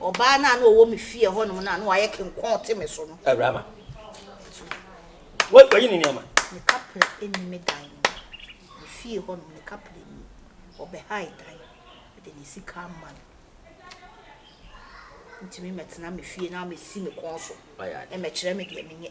Ɔbaa no a na ɔwɔ me fie hɔnom no a na wayɛ kenkɔn te me so no. Awuraba. Ma. Tu. Wayi ne nneɛma. Ne kapra nni me dan no mu. Me fie hɔnom ne kapra nni mu. Ɔbɛhae dan. Mede ne sika ama no. Ntumi mmɛtena me fie na ammɛsi me kɔn so. Mmɛkyerɛ me deɛ menyɛ.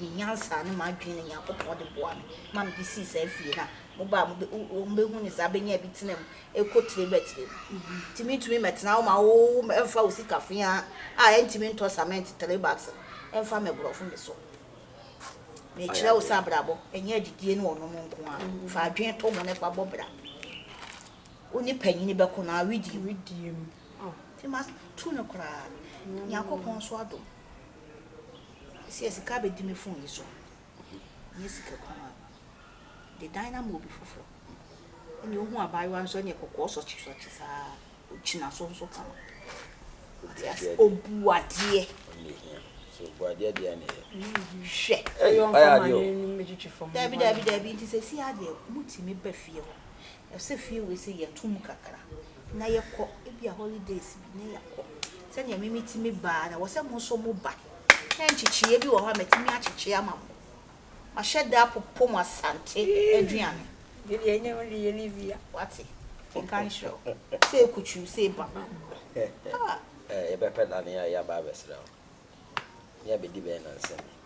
me nyansa ne m'adwene na Nyankopɔn de boa me ma mede sii saa fie no a mobaa mu bɛ wɔn bɛhu ne saa bɛnya bi tena mu ɛkɔ tire bɛ tire mu nti mentumi mɛtena wo ma wo ɛmfa wo sika fea a ɛntumi ntɔ cement three bags no ɛmfa mɛborɔfo me so mekyerɛ wo sɛ abrabɔ ɛnyɛ adidie ne ɔnom nko a fa adwene to ho ne fa bɔ bra wo ne panyini bɛko no awedie mu nti ma tu no koraa Nyankopɔn nso adom Seesei sika abɛdi me fon yi so. Ɛnyɛ sika kumaa no. The dynamo bi foforɔ. Ɛnneɛ wohu abaayewa nso ɛnneɛ kɔkɔɔ sɔkyesɔkye saa. Ɔgyina so nso kama. Wate aseɛ? Ɔbu adeɛ. Hwɛ. Daabi daabi daabi nti seesei adeɛ motumi ba fie hɔ. Ɔsɛ fie wei sɛ yɛto mu kakra na yɛkɔ ebia holidays bi na yɛakɔ sɛnea me metumi baa na wɔsɛ mo nso mo ba na nkyekyeɛ bi wɔ hɔ a matumi akyekye ama mo mahyɛ da apopo mo asante aduane deɛ ɛnyɛ mo deɛ Olivia wate nka nhyerɛ wo sɛ ekutwi sɛ eba ah yɛbɛpɛ nane a yɛaba abɛsrɛ wo ne abɛdi bɛn nansa bi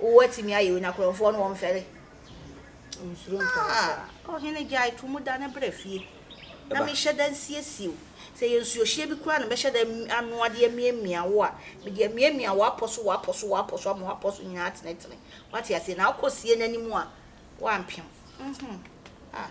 Wo atumi ayɛ o na korɔnfoɔ no wɔmfɛre ɔnsuro ntɔre koraa. Ah ɔhene gyae to mu dane bra fie na mehyɛ da nsiesie wo sɛ ɛyɛ nsuohyeɛ bi koraa na mɛhyɛ da anoa de amiamia wo a mede amiamia w'apɔ so w'apɔ so w'apɔ so ama w'apɔ so nyinaa atenetene wate aseɛ na wokɔ sie no anim a woampem mhm ah.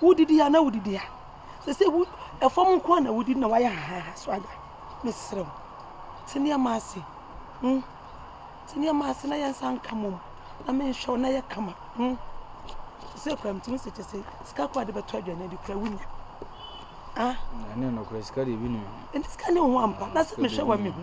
Wodidi a na wodidi a sese wo ɛfam nko a na wodidi na wayɛ hahaha so ada mesrɛ wo te nneɛma ase mm te nneɛma ase na yɛn nsa nka mom na menhwɛ wo na yɛ kama mm sese kura mtumi sɛ kyɛ sɛ sika kɔ ade bɛtɔ aduane adi kura wunya ah ɛne no kura sika deɛ bi nim ɛne sika ne ho ampa na sɛ mehwɛ wa mehu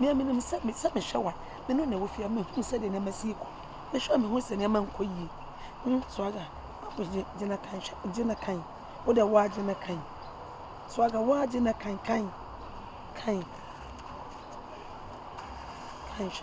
Nea minim sɛ me sɛ mehwɛ wa me no na ɛwɔ fie a mehu sɛdeɛ nneɛma si rekɔ mehwɛ a mehu sɛ nneɛma nkɔ yie hmm Swagga mapo gye gye na kan hwɛ gye na kan wo deɛ waa gye na kan Swagga waa gye na kan kan kan kan hwɛ.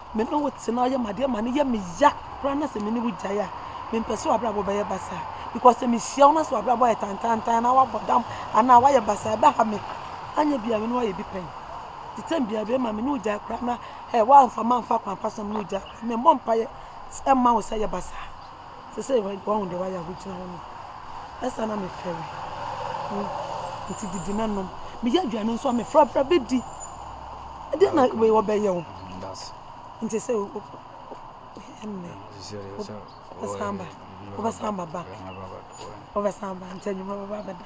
Me ne wo tena yɛ ma deɛ ma no yɛ me ya koraa na sɛ me ne wo gyae a mempɛ sɛ w'abrabɔ bɛyɛ basaa because sɛ mehyia wo na sɛ w'abrabɔ ayɛ tantantan anaa wabɔ dam anaa wayɛ basaa ɛbɛha me anyɛ bia me ne wayɛ bi pɛn te tɛm bia bɛyɛ ma me ne wo gyae koraa na ɛ woamfa mamfa kwan pa so na me ne wo gyae koraa memmɔ mpaeɛ ɛmma wo sɛ yɛ basaa Sesei woahu deɛ woayɛ a wogyina hɔ no, ɛsɛ a na mefɛre wo. Enti didi na nom. Meyɛ aduane nso a, mefrafra bɛdi. Ɛdeɛn na wei wɔbɛyɛ wo? Nti sɛ ɛnnɛ wobɛsan ba, wobɛsan ba back, wobɛsan ba nti anwummerɛ wobɛba abɛda.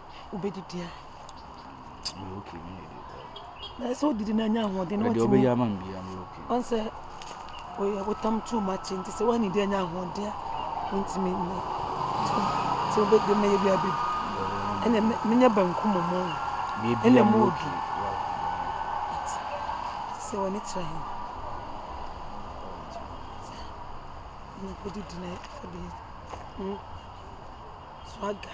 wobɛdidi a na sɛ wodidi no anya ahoɔden na watumi ɔn sɛ woyɛ wotam too much nti sɛ woanni di anya ahoɔden a wontumi nyɛ sɛ wobɛdi mɛyɛ bi abɛdi ɛnna menyɛ banku mu mu ɛnna mu obi sɛ wɔne kyerɛ he na kɔdidi na ɛfa bi swaga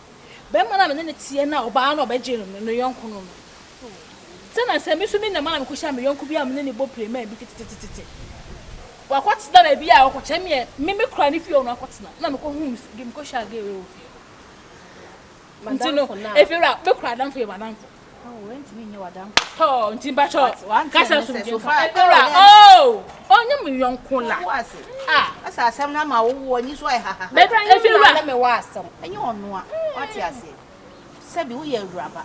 Barima no a me ne no teɛ no a ɔbaa no a ɔbɛgyee no no, ne yɔnko no no. Sɛnea sɛ me nso me nam a mekɔhyiaa me yɔnko bi a me ne no bɔ pireman bi tetetetete. Wakɔtena baabi a ɔkɔkyɛ me yɛ, me me kora ne fie hɔ na wakɔtena. Ɛna mekɔhuu me so, mekɔhyiaa gay wei wɔ fie hɔ. Nti no, efiewura, me kora adamfo yɛ m'adamfo. Wɔntumi nyɛ w'adamfo. Tɔɔ nti mpatsɔ kasa somdwe nfa. Ewura oo ɔnyɛ me yɔnko la. Ah. Asa asɛm na ma wo wo anyi so ayɛ haha. Bɛkura yɛ mi na ɔne me wɔ asɛm. Ɛnyɛ ɔno a wate aseɛ. Sɛbi woyɛ awuraba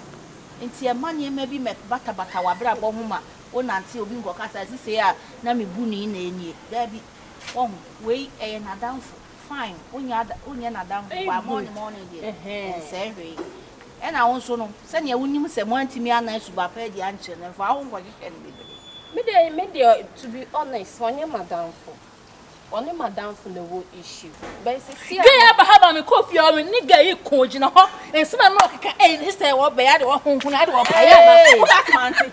nti ɛma nneɛma bi mɛ batabata w'abrabɔ ho ma wo nante obi nkɔka sɛ sisei a na me bu no yi na ɛnie. Daabi. Wahu wei ɛyɛ n'adamfo. fine wonyɛ ada wonyɛ n'adamfo wa morning morning deɛ ɛnsɛe hwee ɛna wo nso no sɛnea wonim sɛ moantumi anan suba pɛ adi ankyerɛ no mfa ho nkɔhyehyɛ no bebree me de me deɛ to be honest ɔnyɛ madamfo ɔne madamfo na ɛwɔ issue bɛn sɛ si a gay aba ha ma me kɔ fie ɔme ne gay yi ko gyina hɔ nsɛm a na ɔkeka ɛyi ne sɛ wɔbɛyɛ ade wɔhohona ade wɔpayɛ ama wobɛkamante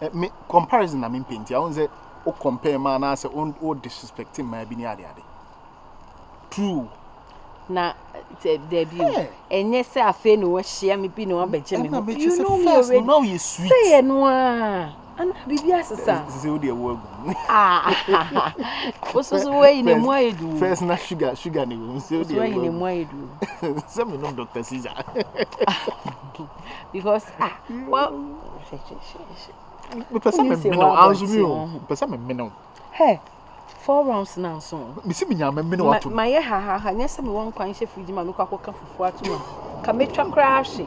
Eh, me comparison na me mpɛ nti ahun sɛ o compare ma anaasɛ o disrespect mmaa bi ne ade ade true na dabi o ɛnyɛ sɛ afei na wahyia me bi na wabɛgye me ho you know me already sɛ yɛ no a ana biribi asesa sɛ wode ɛwo agu wo so so woayi na mu ayɛ du first na sugar sugar ne wom sɛ wode ɛwo agu sɛ menom dr caesar because ah wa mepɛ sɛ memene wo anso mi o mepɛ sɛ memene wo hɛ four rounds na nso mesi me nyame mene wo ato mayɛ hahaha nyɛ sɛ mewɔ nkwan hyɛ fridge ma mekɔ akɔka fufuo ato ma ka mɛtwa koraa hwe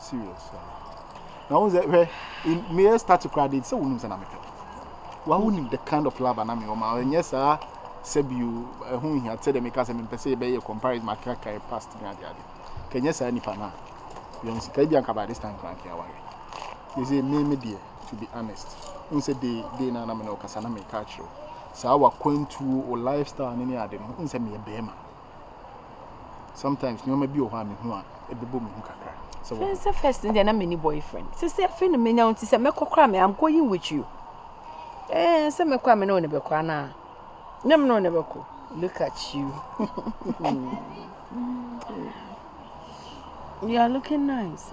Serious ah. Na wo sɛ hwɛ meyɛ start koraa de sɛ wonim sɛ na mepɛ wa wonim the kind of love na mewɔ ma ɛnyɛ saa sɛ bio ɛho nhia sɛ dɛ meka sɛ mempɛ sɛ yɛbɛyɛ comparison makaka yɛ past ne ade ade ka ɛnyɛ saa nipa no a yɛn sika bi anka by this time koraa nka aware yɛsɛ me me deɛ to be honest n sɛ de de na na me na ɔkasa na meka akyerɛ saa wakwantuo o lifestyle ne ne ade no n sɛ meyɛ bɛrima sometimes nneɛma bi wɔ hɔ a mehu a ɛbɛbɔ me ho kakra sɛ wɔ sɛ first deɛ na meni boyfriend sɛ sɛ afei no menya wo nti sɛ mɛkɔ koraa me am going with you ɛɛ sɛ mɛkɔ a me ne wo ne bɛkɔ anaa nyɛ me ne wo ne bɛkɔ look at you you are looking nice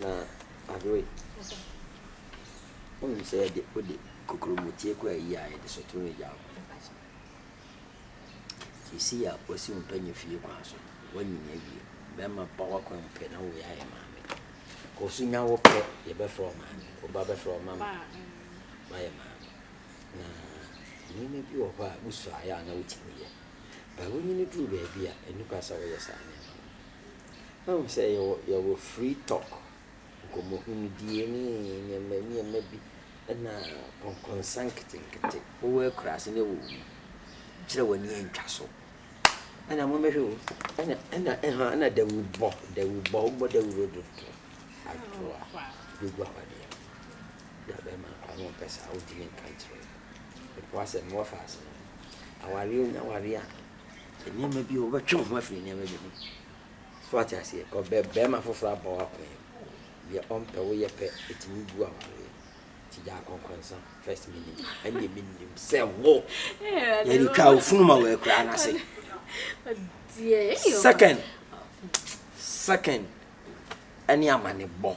Na Adwoe, wonim sɛ yɛde wode kokurommotie kɔ ayi a yɛde sotwe wo agya wo pɛn ase. Seesei a wasi wo mpanya fie kwan so no, woanyin awie. Bɛrima pa w'akwan mu pɛ na wowei ayɛ maame. Kɔ so nya wo pɛ, yɛbɛfrɛ wo maame. Wo ba bɛfrɛ wo mama. Woayɛ maame. Na nneɛma bi wɔ hɔ a wosuaeɛ a na wotumi yɛ. But wonyini duru baabi a, ɛnni kwa sɛ woyɛ saa nneɛma no. Woahu sɛ yɛwɔ yɛwɔ free talk, nkɔmmɔhunudie ne nneɛma nneɛma bi na nkɔnkɔnsa nketenkete. Wowɔ akuraase na wowɔ mu. Kyerɛ w'ani antwa so. Ɛna mommɛhwɛ o. Ɛna ɛna ɛha ɛna dawurubɔ dawurubɔ wobɔ dawuro dodo. Adoa bɛgu awadeɛ no. Bi a bɛrima koraa na ɔmpɛ saa wontumi nka nkyerɛ no. Mpo asɛm no wɔfa ase no. Awareɛ wonya awareɛ a. nneɛma bi, wobɛtwe wo ho afiri nneɛma bi ho. So wate aseɛ? Ɔbɛ bɛrima foforɔ abɔ wo akwan mu. Deɛ ɔmpɛ wo yɛ pɛ, ɛtumi bu awareɛ. Ti gyaa kɔnkɔnsa first minute. Ɛnneɛ menim sɛ wo. Yɛde twaa wo funu ma wɔ akuraa no ase. Second, second, ɛne amane bɔ.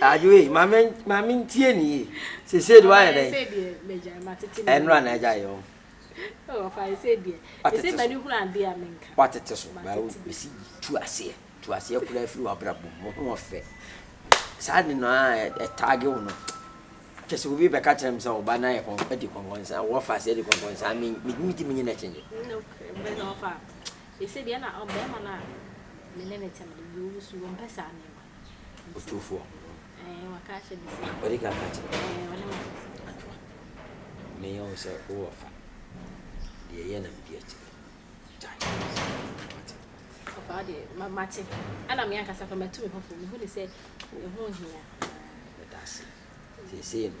adwoe maame maame ntie ne yie sese de wayɛ dɛ ɛnura na agya yɛ wɔn. watete so baawo bɛsi tu aseɛ tu aseɛ kura afiri wabrabɔ mu ho ɔfɛ saa de no a ɛtaage wo no kyɛ sɛ obi bɛka kyerɛ m sɛ ɔba no ayɛ adi kɔnkɔnsa wɔfa aseɛ adi kɔnkɔnsa megye megye menyɛ no akyɛnyɛ Seesei deɛ na ɔbarima no a me ne no te no deɛ ɔresu, ɔmpɛ saa nneɛma no. Otumfoɔ. Ɛɛ, waka akyerɛ me sɛ. Ɔde ka ka akyerɛ. Ɛɛ, ɔne me aka sɛ. Atwa. Meyɛ wo sɛ wowɔ afa. Deɛ ɛyɛ na medi akyire. Gyae. Mate. Papa deɛ, mate. Ɛna me ankasa kora matu me ho fam. Mehu ne sɛ ɛho hia. Meda ase. Seesei no,